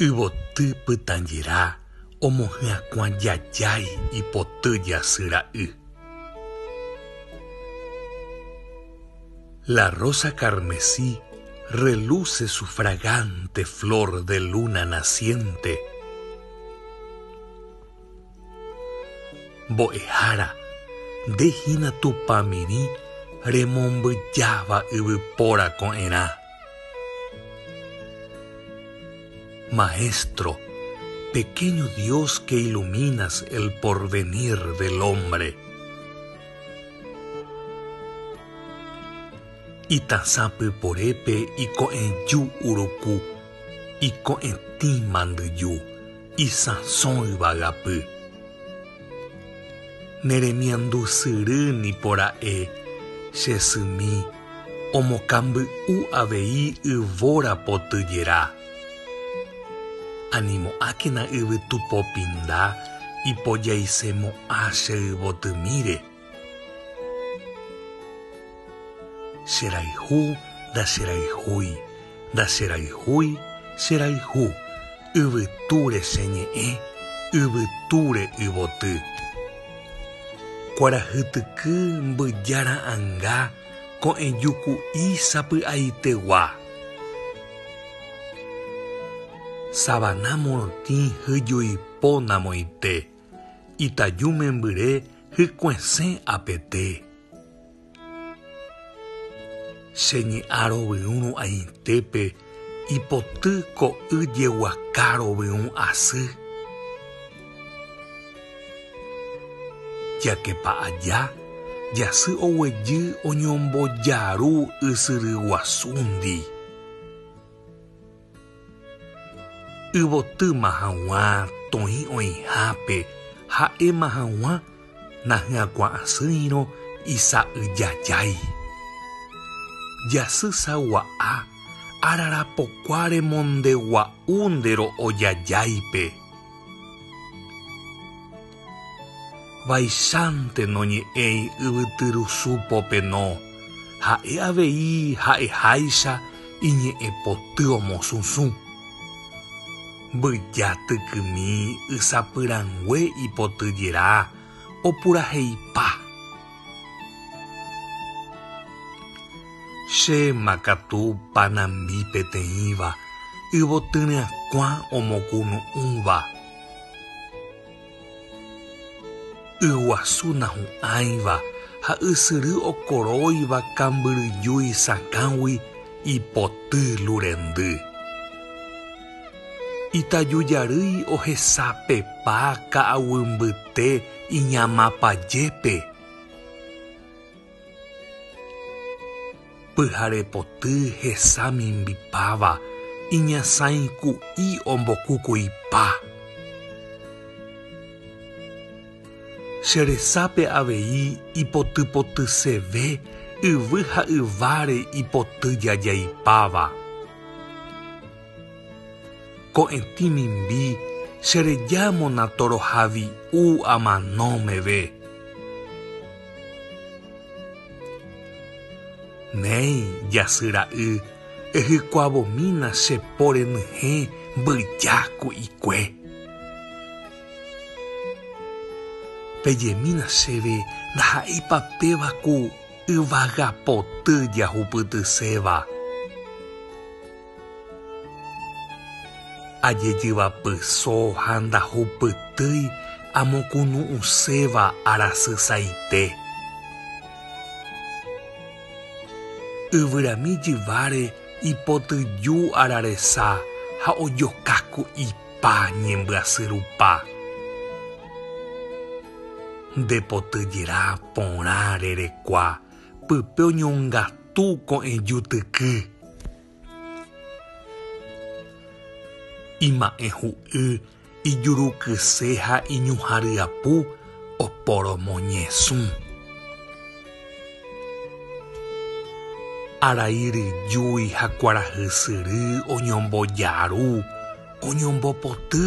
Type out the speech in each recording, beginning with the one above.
Yvoty pytãjera omohyakuã jajái ipoty jasy ra'y. La rosa carmesí reluce su fragante flor de luna naciente. Mbo'ehára, nde hína Tupãmirĩ remombyjáva yvypóra ko'ẽrã. Maestro, pequeño Dios que iluminas el porvenir del hombre. Itasã pyporépe iko'ẽju uruku, iko'ẽtĩ mandyju. Isãso yvagapy. Ne remiandu syry nipo ra'e che symi omokamby'u avei yvóra potyjera. Animo'ákena yvytu popinda ipojaise mo'ã che yvotymíre. Cherayhu, ndacherayhúi, ndacherayhúi, cherayhu, yvytúre cheñe'ẽ, yvytúre yvoty. Kuarahytyky mbyja ra'anga ko'ẽjuku'i sapy'aitegua. Savana morotĩ hyjuipo namoite. Itaju membyre hykuesẽ apete. Che ñe'ã rovyũ ru'ãitépe ipoty ko'y jeguaka rovyũ asy. Jakepa aja jasy oguejy oñombojaru ysyry guasúndi. Yvotýma haguã toĩ oĩhápe ha'éma haguã nahyakuaasỹirõ isa'yjajái. Jasy sagua'a ararapokua remondegua'u nde ro'o jajáipe. Vaichántee noñe'ẽi yvytyrusu popeno, ha'e avei ha'eháicha iñe'ẽpoty omosũsũ. Mbyja tykymi ysapyrangue ipotyjera opuraheipa. Chéma katu panambi peteĩva yvotyryakuã omokunu'ũva. Yguasu nahu'ãiva ha ysyry okoróiva kambyryjúi sakãgui ipoty lurendy. Itaju jarýi ohesapepa ka'aguy mbyte iñamapa jépe. Pyhare poty hesa mimbipáva iñasãi ku'i ombokukuipa. Che resápe avei ipotypotyseve yvy ha yváre ipoty jajaipáva. Ko'ẽtĩ mimbi che reja mona toroha vi'u amano meve. Néi, jasy ra'y, ehykuavomína che po renyhẽ mbyja ku'ikue. Pejemína chéve ndaha'éipa péva ku yvagapoty jahupytyséva. Ajejyvapyso ha ndahupytýi amokunu'ũséva arasy saite. Yvyrami jyváre ipotyju araresa ha ojoka ku'ipa ñembyasy rupa. Nde potyjera porã rerekua. Pype oñongatu ko'ẽju tyky. Ima'ẽ hu'y ijurukyse ha iñuhã ryapu oporomoñesũ. Arai ryjúi ha kuarahy syry oñombojaru, oñombopoty.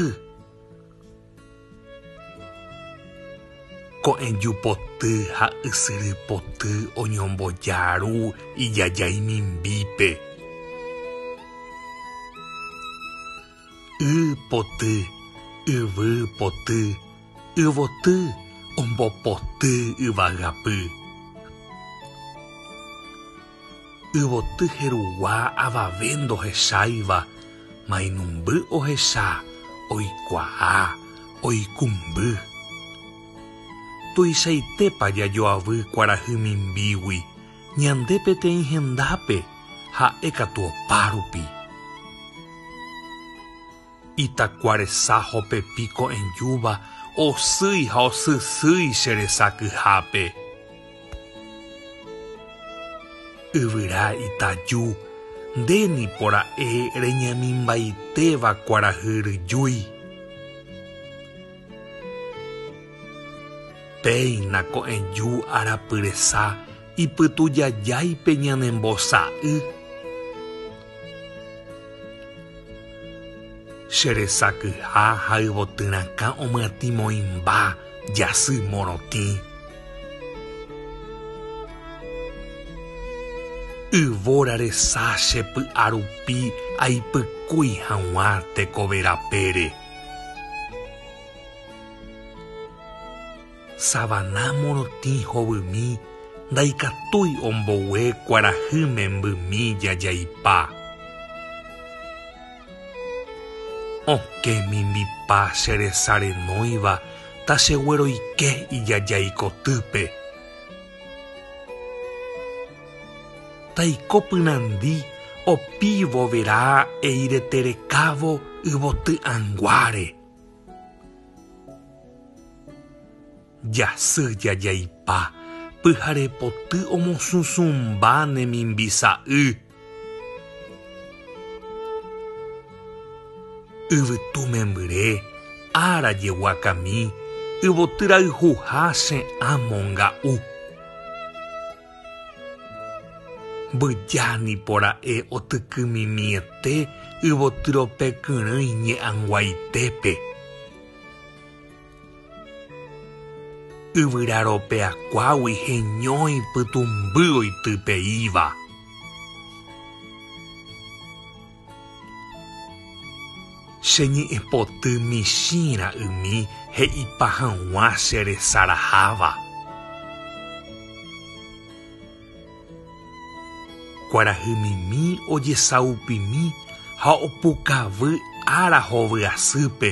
Ko'ẽju poty ha ysyry poty oñomboja ru ijajái mimbípe. Y poty, yvy poty, yvoty ombopoty yvagapy. Yvoty jerugua avave ndohecháiva, mainumby ohecha, oikuaa, oikumby. Tuichaitépa jajoavy kuarahy mimbígui ñande peteĩ hendápe, ha'e katu opárupi. Itakua resa hopepi ko'ẽjúva osýi ha osysýi che resa kyhápe. Yvyra itaju, nde nipo ra'e reñemimbaiteva kuarahy ryjúi. Péina ko'ẽju arapy resa ipytujajáipe ñanembosa'y. Che resakyha ha yvotyrãkã omyatĩ moĩmba jasy morotĩ. Yvóra resa che py'a rupi aipykúi hag̃ua teko verapére. Savana morotĩ hovymi ndaikatúi ombogue kuarahy membymi jajaipa. Okẽ mimbipa che resa renóiva ta che gueroike ijajái kotýpe. Taiko pyrandi opívo verá eirete rekávo yvoty ãnguáre. Jasy jajaipa, pyharepoty omosũsũmba ne mimbisa'y. Yvytu membyre, ára jeguakami, yvoty rayhuha che amo nga'u. Mbyja nipo ra'e otykymimiete yvotyrope kyrỹi ñe'anguaitépe. Yvyra ropeakuágui heñói pytũmby oitypeíva. Che ñe'ẽpoty michĩ ra'ymi he'ipa hag̃ua che resaraháva. Kuarahy mimi ojesaupimi ha opukavy ára hovyasýpe.